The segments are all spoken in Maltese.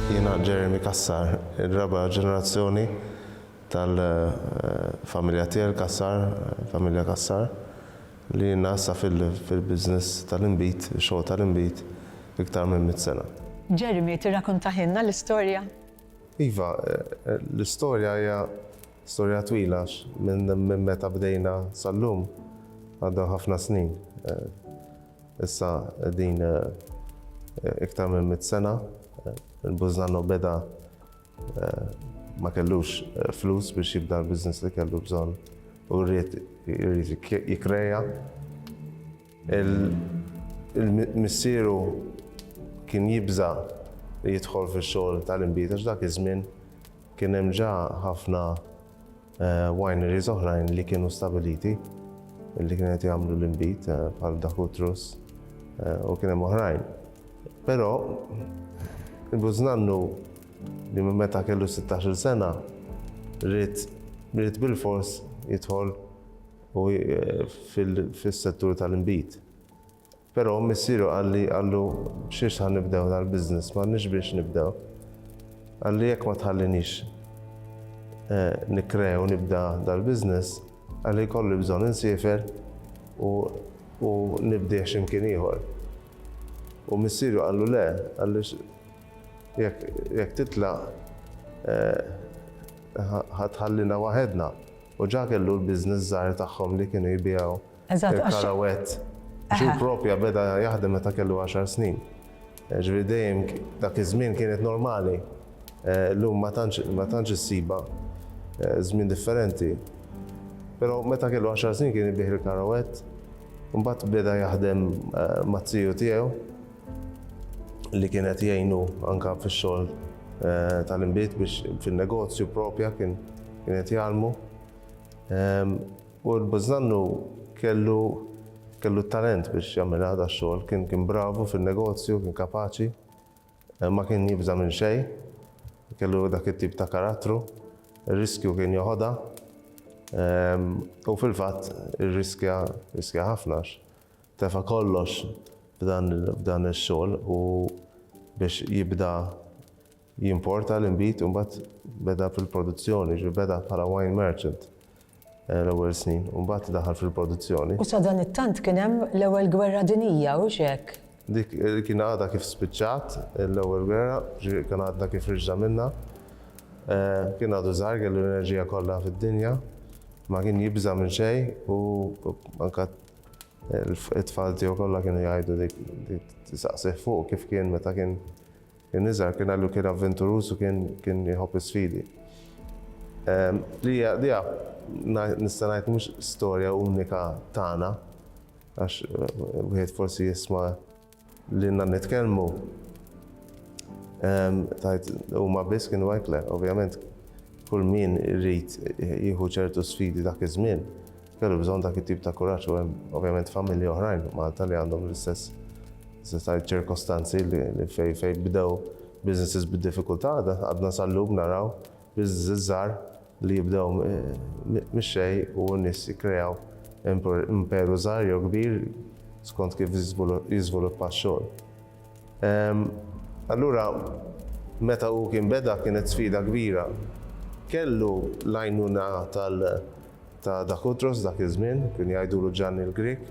Jiena Jeremy Cassar, ir-raba' ġenerazzjoni tal-familja tiegħi, il-Cassar, familja Cassar, li ilna issa fil-business tal-inbid, ix-xogħol tal-inbid, iktar minn mitt sena. Jeremy, tirrakuntahielna l-istorja? Iva, l-istorja hija storja twila għax minn meta bdejna sal-lum għaddew ħafna snin. Issa din iktar minn mit sena, il-Bużnanno beda ma kellux flus biex jibda l-business li kellu bżonn u rrid jikkreja. Il-missieru kien jibża' li jidħol fix-xogħol tal-inbid għax dak iż-żmien kien hemm ġa ħafna Wineries oħrajn li kienu stabiliti li kienu qed jagħmlu l-inbid eh, bħal Dakutrus eh, u kien hemm oħrajn. Però il-bużnannu li minn meta kellu 16 sena rrit rrit bil-fors jidħol u eh, fil-settur tal-inbid. Però missieru qalli, qallu, B'xiex ħa nibdew dal-business? M'għandniex biex nibdew. Qalli, Jekk ma tħallinix nikkrea u nibda dal-business, qalli, jkolli bżonn insiefer u u nibdieh xi mkien ieħor. U missieru qallu, Le, qallu, jekk jekk titlaq ħa ħa tħallina waħedna. U ġa kellu l-business żgħir tagħhom li kienu jbigħu Eżatt, għax. Karawet. Ġu propja beda jaħdem meta kellu 10 snin. Eh, ġviri dejjem dak iż-żmien kienet normali. Eh, Lum ma tantx issiba eh, żmien differenti. Però meta kellu 10 snin kien ibih il-karawet, mbagħad beda jaħdem mazziju tiegħu li kienet jgħinu anka fix-xogħol tal-inbit biex fin-negozju propja kien kienet jgħalmu. Ehm, U l-bużnannu kellu kellu t-talent biex jagħmilha dax-xogħol, kien kien bravu fin-negozju, kien kapaċi, ma kien jibża' minn xejn, kellu dak it-tip ta' karattru, ir-riskju kien joħodha, u fil-fatt irriskja riskja ħafna għax tefa' kollox f'dan f'dan ix-xogħol u biex jibda Jimporta l-inbid u mbagħad beda fil-produzzjoni, jiġifieri beda bħala wine merchant l-ewwel snin u mbagħad daħal fil-produzzjoni. U sadanittant kien hemm l-Ewwel Gwerra Dinjija, hux hekk? Dik kien għadha kif spiċċat l-Ewwel Gwerra, jiġifieri kien għadna kif riġna minnha. Kien għadu żgħir, kellu l-enerġija kollha fid-dinja, ma kien jibża' minn xejn u anke t-tfal tiegħu kollha kienu jgħidu dik, tistaqsih fuqu kif kien meta kien, Kien iżgħar, kien għallu kien avventuruż u kien kien iħobb is-sfidi. Li hija li hija nista' ngħid mhux storja unika tagħna għax wieħed forsi jisma' lilna nitkellmu tajt huma biss kienu hekk le, ovvjament kull min irid jieħu ċertu sfidi dak iż-żmien. Kellu bżonn dak it-tip ta' kuraġġ u hemm ovvjament familji oħrajn Malta li għandhom l-istess sistajt ċirkostanzi li fej fej bdew businesses bid-diffikultà għadna sal-lum naraw businesses żgħar li jibdew mix-xejn u n-nies jikkreaw imperu żgħar jew kbir skont kif jiżviluppa x-xogħol. Allura, meta hu kien beda kienet sfida kbira. Kellu l-għajnuna tal ta' Dakutros dak iż-żmien, kienu jgħidulu Ġanni l-Grieg,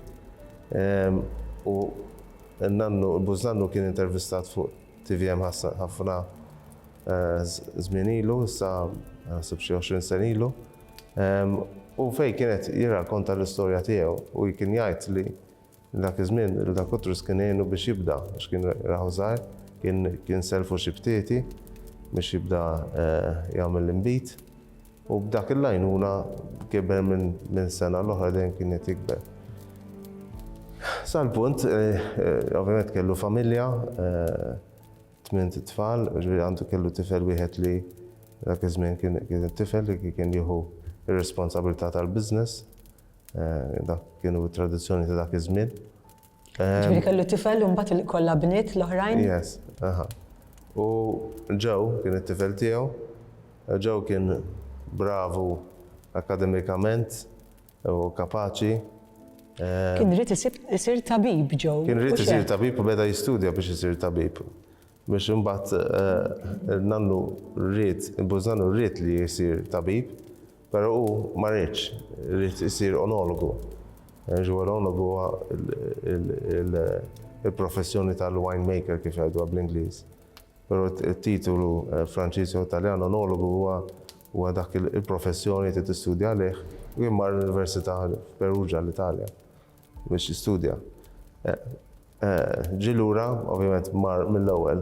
u n-nannu, il-bużnannu kien intervistat fuq tvm ħassan ħafna żmien ilu, issa naħseb xi għoxrin sena ilu, u fejn kien qed jirrakonta l-istorja tiegħu u kien jgħid li, Dak iż-żmien il-Da Kutrus kien għinu biex jibda għax kien rahu żgħir, kien sellfu xi btieti biex jibda jagħmel l-inbid u b'dak il-għajnuna kiber minn sena l-oħra dejjem kien qed jikber. Sal-punt, ovvjament kellu familja, tmint tfal, ġifieri għandu kellu tifel wieħed li dak iż-żmien kien it-tifel li kien jieħu r-responsabilità tal-business Eh, dak kienu tradizzjoni ta' dak iż-żmien. Ġifieri kellu tifel u mbagħad kollha bniet l-oħrajn? Yes, aha. U ġew kien it-tifel tiegħu, ġew kien bravu akademikament u kapaċi. Eh, kien rrit isir tabib ġew. Kien rrit isir tabib u beda jistudja biex isir tabib. Biex imbagħad eh, nannu rrit, bużannu rrit li jisir tabib Però hu ma riedx, ried isir onologu. L-onologu huwa l-professjoni tal-wine maker kif jgħiduha bl-Ingliż. Però t-titolu eh, Franċiż jew Taljan onologu huwa huwa dak il-professjoni li tistudja għalih u jien mar l-Università f'Perugia l-Italja biex istudja. Eh, Ġie lura, ovvjament mar mill-ewwel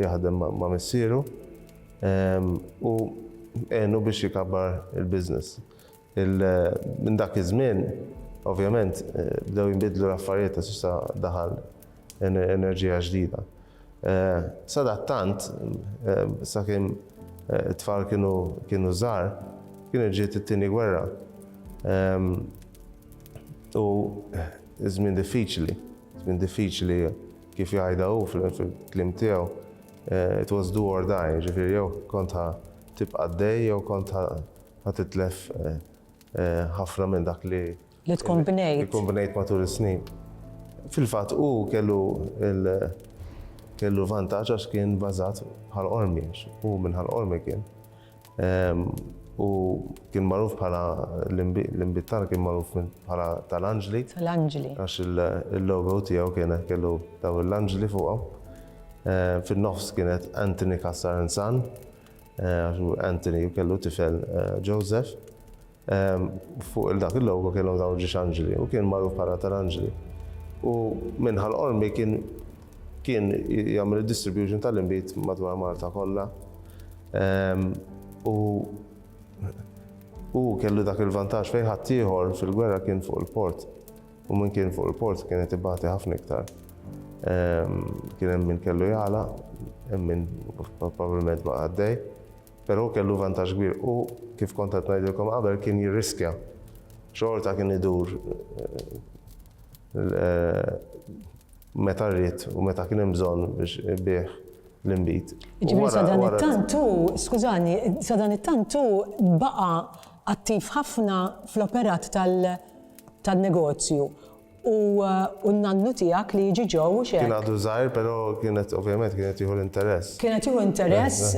jaħdem ma' missieru u għenu biex ikabbar il-business. Minn dak iż-żmien, ovvjament, bdew jinbidlu l-affarijiet għax issa daħal enerġija ġdida. Sadattant, sakemm it-tfal kienu żgħar, kienet ġiet it-Tieni Gwerra u Żmien diffiċli, żmien diffiċli kif jgħidha hu fil-kliem tiegħu, it was do or die, jiġifieri jew kont ħa tibqa' għaddej jew kont ħa titlef ħafna minn dak li li tkun bnejt. Tkun bnejt matul is-snin. Fil-fatt hu kellu kellu vantaġġ għax kien bażat bħal qormi, hu minn ħal qormi kien. U kien magħruf bħala l-inbid tagħna kien magħruf bħala tal-anġli. Tal-anġli. Għax il-logo tiegħu kien kellu daw l-anġli fuqha. Fin-nofs kienet Anthony Cassar Anthony kellu tifel Joseph. Fuq il-dak il-logo kienu dawn ġiex anġli u kien magħruf bħala tal-anġli. U minn Ħal Qormi kien kien jagħmel id-distribution tal-inbid madwar Malta kollha. U hu kellu dak il-vantaġġ fejn ħaddieħor fil-gwerra kien fuq il-port. U min kien fuq il-port kien qed ibati ħafna iktar. Kien hemm min kellu jagħlaq, hemm min probabbilment baqa' għaddej. Peró kellu vantaġġ kbir u, kif kont qed ngħidilkom qabel, kien jirriskja. Xorta kien idur meta ried u meta kien hemm bżonn biex ibigħ l-inbid. Jiġifieri sadanittant hu, skużani, sadanittant hu baqa' attiv ħafna fl-operat tan-negozju U n-nannu tiegħek li jiġi ġo, hux hekk? Kien għadu żgħir, però kien qed ovvjament kien qed jieħu l-interess. Kien qed jieħu interess.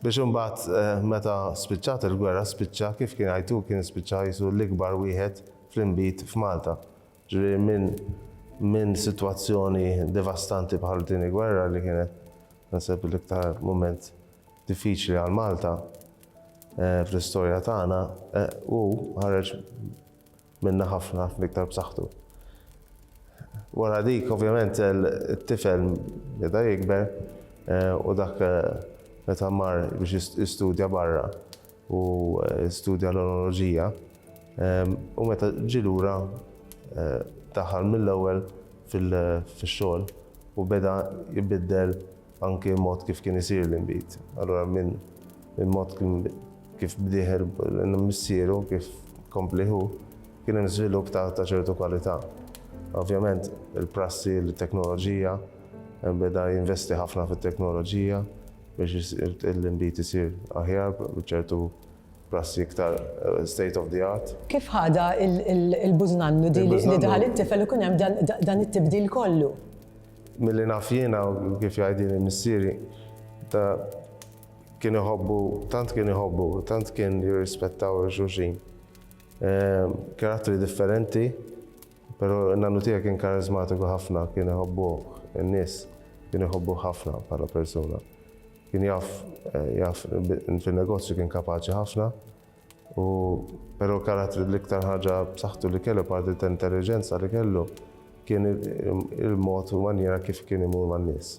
Biex imbagħad meta spiċċat il-gwerra spiċċa, kif kien jgħid hu, kien spiċċa qisu l-ikbar wieħed fl-inbid f'Malta. Ġifieri minn minn sitwazzjoni devastanti bħal tieni gwerra li kienet naħseb l-iktar mument diffiċli għal Malta fl-istorja tagħna, hu ħareġ Minna ħafna l-iktar b'saħħtu. Wara dik, ovvjament, it-tifel beda jikber u dak meta mar biex jistudja barra u studja l-onoloġija u meta ġie lura daħal mill-ewwel fix-xogħol u beda jbiddel Anki l-mod kif kien isir l-inbid. Allura minn il-mod kif bdieh missieru, kif kompli hu, kien hemm żvilupp ta' ċertu kwalità. Ovvjament il-prassi, it-teknoloġija, hemm beda jinvesti ħafna fit-teknoloġija biex l-inbid isir aħjar b'ċertu prassi iktar state of the art. Kif ħadha l-bużnannu din li daħal it-tifel u kien hemm dan it-tibdil kollu? Milli naf jiena u kif jgħidili missieri, ta' kien iħobbu, tant kien iħobbu, tant kien jirrispettaw il xulxin. Karattri differenti, pero n-nannu tiegħi kien kariżmatiku ħafna, kien iħobbuh in-nies, kien iħobbuh ħafna bħala persuna. Kien jaf, jaf, fin-negozju kien kapaċi ħafna. U pero karattri l-iktar ħaġa b'saħħtu li kellu apparti ta' intelliġenza li kellu kien il-mod u manjiera kif kien imur man-nies.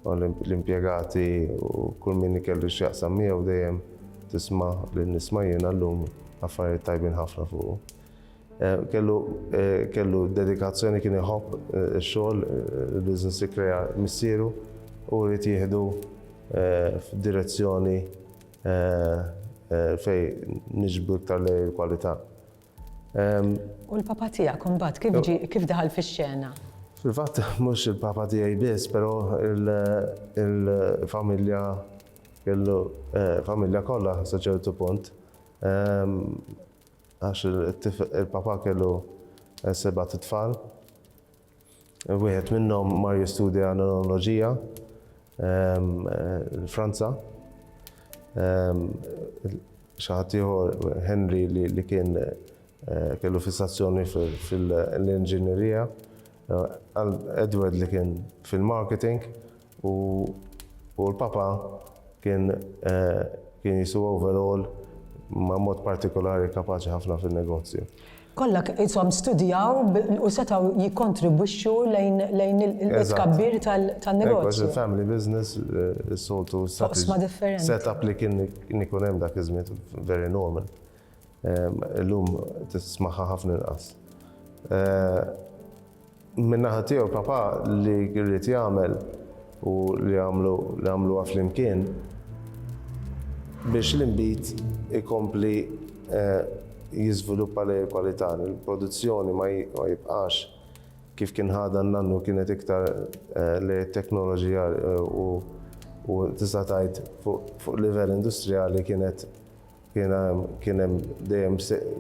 U l-impjegati u kull min ikellu x'jaqsam miegħu dejjem tisma' li nisma' jiena llum affarijiet tajbin ħafna fuqu. Kellu kellu dedikazzjoni kien iħobb ix-xogħol, il-business li krea missieru u ried jieħdu f'direzzjoni Fej niġbdu iktar lejn il-kwalità. U l-papa tiegħek imbagħad kif ġie, kif daħal fix-xena? Fil-fatt mhux il-papa tiegħi biss, però il-familja kellu, familja kollha sa ċertu punt. Għax il-papa kellu sebat itfal. Wieħed minnhom mar jistudja l-enoloġija l-Franza. Xi ħadd ieħor Henry li kien kellu fissazzjoni fil-inġinerija. Edward li kien fil-marketing U l-Papa kien kien jisu overall ma' mod partikolari kapaċi ħafna fin-negozju. Kollha qishom studjaw u setgħu jikkontribwixxu lejn lejn it-tkabbir tan-negozju. Għax il-family business is-soltu. F'oqsma differenti. Set-up li kien ikun hemm dak iż-żmien very normal. Illum tismaha ħafna inqas. Min-naħa tiegħu papà li rrid jagħmel u li għamlu li għamluha flimkien biex l-inbid ikompli jiżviluppa lejn il-kwalità, li l-produzzjoni ma jibqax kif kien ħadha n-nannu kienet iktar lejn it-teknoloġija u tista' tgħid fuq livell industrijali kienet Jiena kien hemm dejjem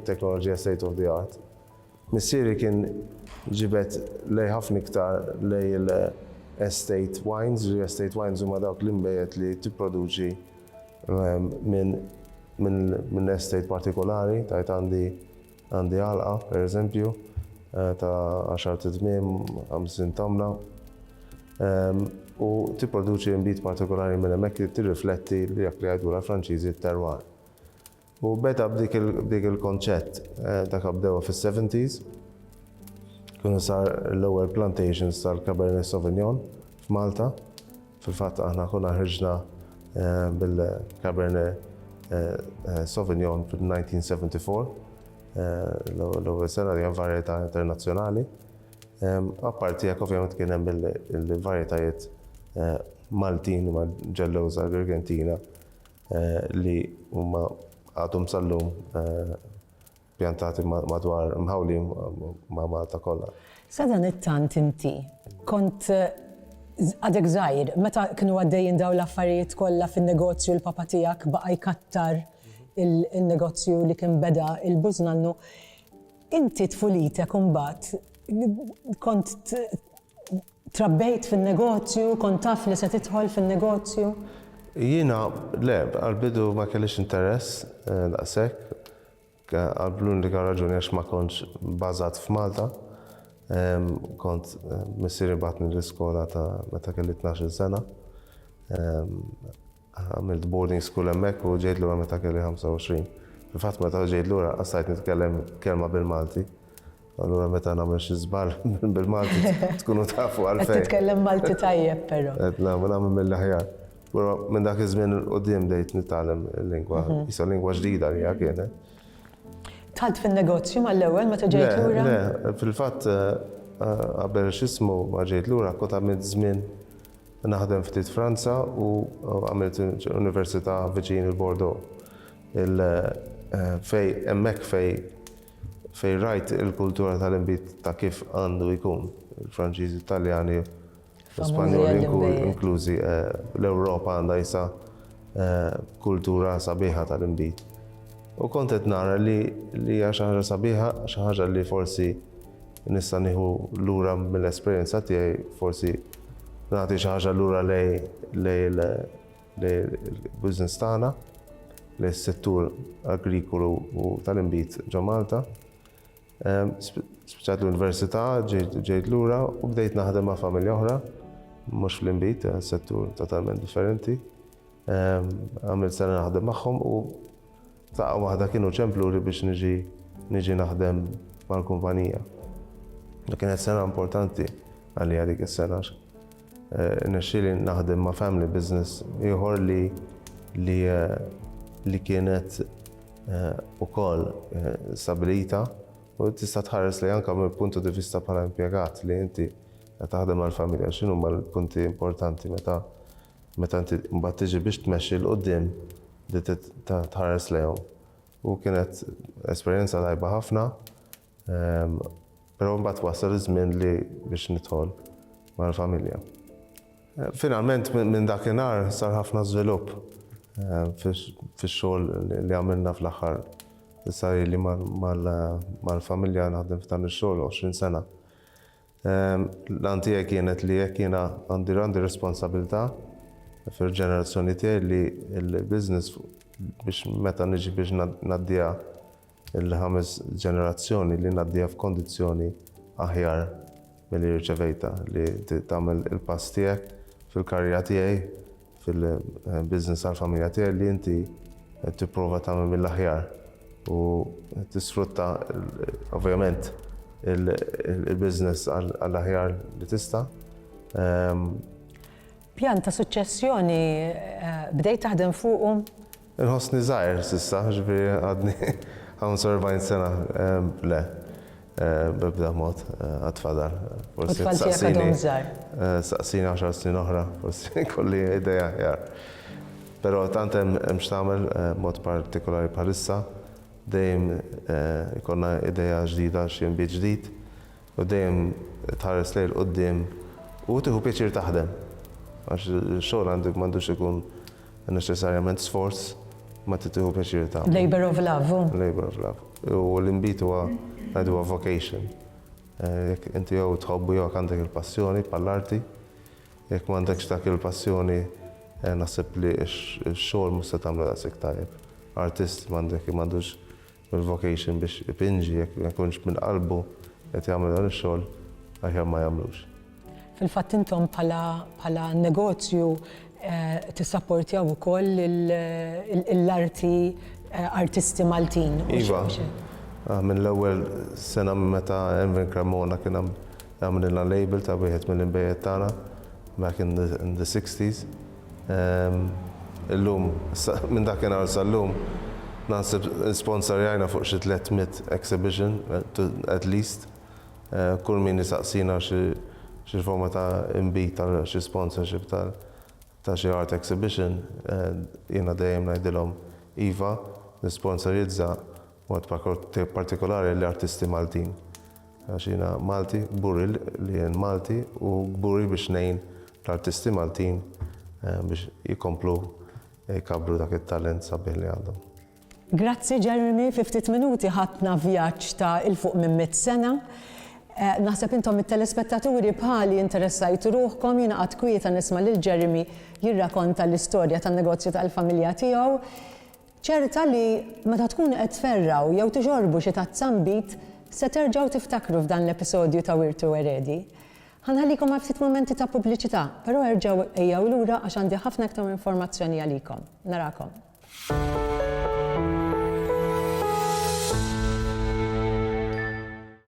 teknoloġija state of the art. Missieri kien ġibed lejh ħafna iktar lejn il-estate wines, li estate wines huma dawk l-inbejjed li tipproduċi minn estate partikolari, tgħid għandi Għandi għalqa, per eżempju, ta' għaxart idmiem, ħamsin tamla, u tipproduċi inbid partikolari minn hemmhekk li tirrifletti dak li jgħidulha l-Franċiżi t-terroir. U beda b'dik il-konċett, dak bdewha fis-seventies, kienu sar l-ewwel plantations tal-Cabernet Sauvignon f'Malta, Fil-fatt aħna konna ħriġna bil-Cabernet Sauvignon fil-1974, l-ewwel sena li hemm varjetà internazzjonali. Apparti jekk ovvjament kien hemm il-varjetajiet Maltin ma ġellewża Agrigentina li huma għadhom sal-lum Pjantati madwar, mħawlin ma' Malta kollha. Sadanittant inti kont għadek żgħir, meta kienu għaddejjin dawn l-affarijiet kollha fin-negozju l-papa tiegħek baqa' jkattar il-negozju li kien beda il-Bużnannu, inti tfulitek imbagħad kont Trabbejt fin-negozju? Kont taf li se tidħol fin-negozju? Jiena, le, għall-bidu ma kellix interess daqshekk. Għal l-unika raġuni għax ma kontx bażat f'Malta. Kont, missieri bagħatni l-iskola ta' meta kelli tnax-il sena. Għamilt boarding school hemmhekk u ġejt lura meta kelli 25. Fil-fatt meta ġejt lura qassajt nitkellem kelma bil-Malti. Allura meta nagħmel xi żball bil-Malti tkunu tafu għalfejn. Qed titkellem Malti tajjeb però. Qed nagħmel nagħmel mill-aħjar. Però minn dak iż-żmien 'l quddiem bdejt nitgħallem il-lingwa. Issa lingwa ġdida għalija kienet. Dħalt fin-negozju mal-ewwel meta ġejt lura? Le, le. Fil-fatt qabel x'ismu ma ġejt lura kont għamilt żmien Naħdem ftit Franza u għamilt università viċin il-Bordeaux. Il fej hemmhekk fej fej rajt il-kultura tal-inbid ta' kif għandu jkun. Il-Franċiżi, Taljani, Spanjoli inklużi l-Ewropa għandha issa kultura sabiħa tal-inbid. U kont qed nara li hija xi ħaġa sabiħa, xi ħaġa li forsi Nista' nieħu lura mill-esperjenza tiegħi forsi nagħti xi ħaġa lura lej l-business tagħna, lej is-settur agrikolu u tal-inbid ġo Malta. Ehm, Spiċċat l-università, ġejt lura u bdejt naħdem ma' familja oħra, mhux fl-inbid, eh, settur totalment differenti. Ehm, għamilt sena naħdem magħhom u F'daqqa waħda kienu ċempluli biex niġi niġi naħdem mal-kumpanija. Kienet sena importanti għalija dik is-sena għax nexxieli naħdem ma' family business ieħor li li li kienet ukoll stabilita u tista' tħares li anke mill-puntu di vista bħala impjegat li inti taħdem mal-familja x'inhuma l-punti importanti meta Meta inti mbagħad tiġi biex tmexxi 'l quddiem li tħares lejhom. U kienet esperjenza tajba ħafna, però mbagħad wasal iż-żmien li biex nidħol mal-familja. Finalment minn dakinhar sar ħafna żvilupp fix-xogħol li għamilna fl-aħħar. Issa ili mal-familja naħdem f'dan ix-xogħol 20 sena. L-għan tiegħi kienet li jekk jiena għandi għandi responsabilità fil-ġenerazzjoni tiegħi li l-business biex meta niġi biex ngħaddiha l-ħames ġenerazzjoni li ngħaddiha f'kondizzjoni aħjar milli rċevejtha, li tagħmel il-pass tiegħek fil-karriera tiegħi. Fil-business tal-familja tiegħi li inti qed tipprova tagħmel mill-aħjar u tisfrutta ovvjament il-business għall-aħjar li tista'. Pjan ta' suċċessjoni bdejt taħdem fuqu? Inħossni żgħir s'issa, jiġifieri għadni hawn s-erbgħin sena, le, b'ebda mod, għad fadal. Forsi jekk tistaqsini, staqsini għaxar snin oħra, forsi jkolli idea aħjar. Però tant hemm x'tagħmel, b'mod partikolari bħalissa, dejjem ikollna idea ġdida għal xi inbid ġdid u dejjem tħares lejn il-quddiem u tieħu pjaċir taħdem għax ix-xogħol għandu m'għandux ikun Neċessarjament sforz ma trid tieħu pjaċir tagħmlu. Labour of love hu. Labour of love. U l-inbid huwa ngħidu huwa vocation. Eh, jekk inti jew tħobbu jew għandek il-passjoni bħall-arti, jekk m'għandekx dak il-passjoni eh, naħseb li x-xogħol mhux se tagħmlu daqshekk tajjeb. Artist m'għandek m'għandux il-vocation biex ipinġi jekk ma jkunx minn qalbu qed jagħmel dan ix-xogħol aħjar ma jagħmlux. Fil-fatt intom bħala bħala negozju tissapportjaw ukoll l-arti artisti Maltin. Iva, mill-ewwel sena minn meta Envin Cremona kien hemm għamililna label ta' wieħed mill-inbejjed tagħna back in the sixties. Illum, minn dakinhar sal-lum, naħseb sponsorjajna fuq xi tliet mitt exhibition, at least. Kull min isaqsina xi forma ta' inbid għal xi sponsorship ta' xi art exhibition, jiena dejjem ngħidilhom iva, nisponsorjizza. B'mod partikolari l-artisti Maltin. Għax jiena Malti, kburi li jien Malti u kburi biex ngħin l-artisti Maltin biex jkomplu jkabbru dak it-talent sabiħ li għandhom. Grazzi Jeremy, fi ftit minuti ħadtna vjaġġ ta' 'il fuq minn mitt sena. Naħseb intom it-telespettaturi bħali interessajtu ruħkom, jiena qgħadt kwieta nisma' lil Jeremy jirrakonta l-istorja tan-negozju tal-familja tiegħu. Ċerta li meta tkunu qed tferrgħu jew tixorbu xi tazza nbid se terġgħu tiftakru f'dan l-episodju ta' Wirtu Eredi. Ħa nħallikom għal ftit mumenti ta' pubbliċità, però erġgħu ejjew lura għax għandi ħafna iktar informazzjoni għalikom. Narakom.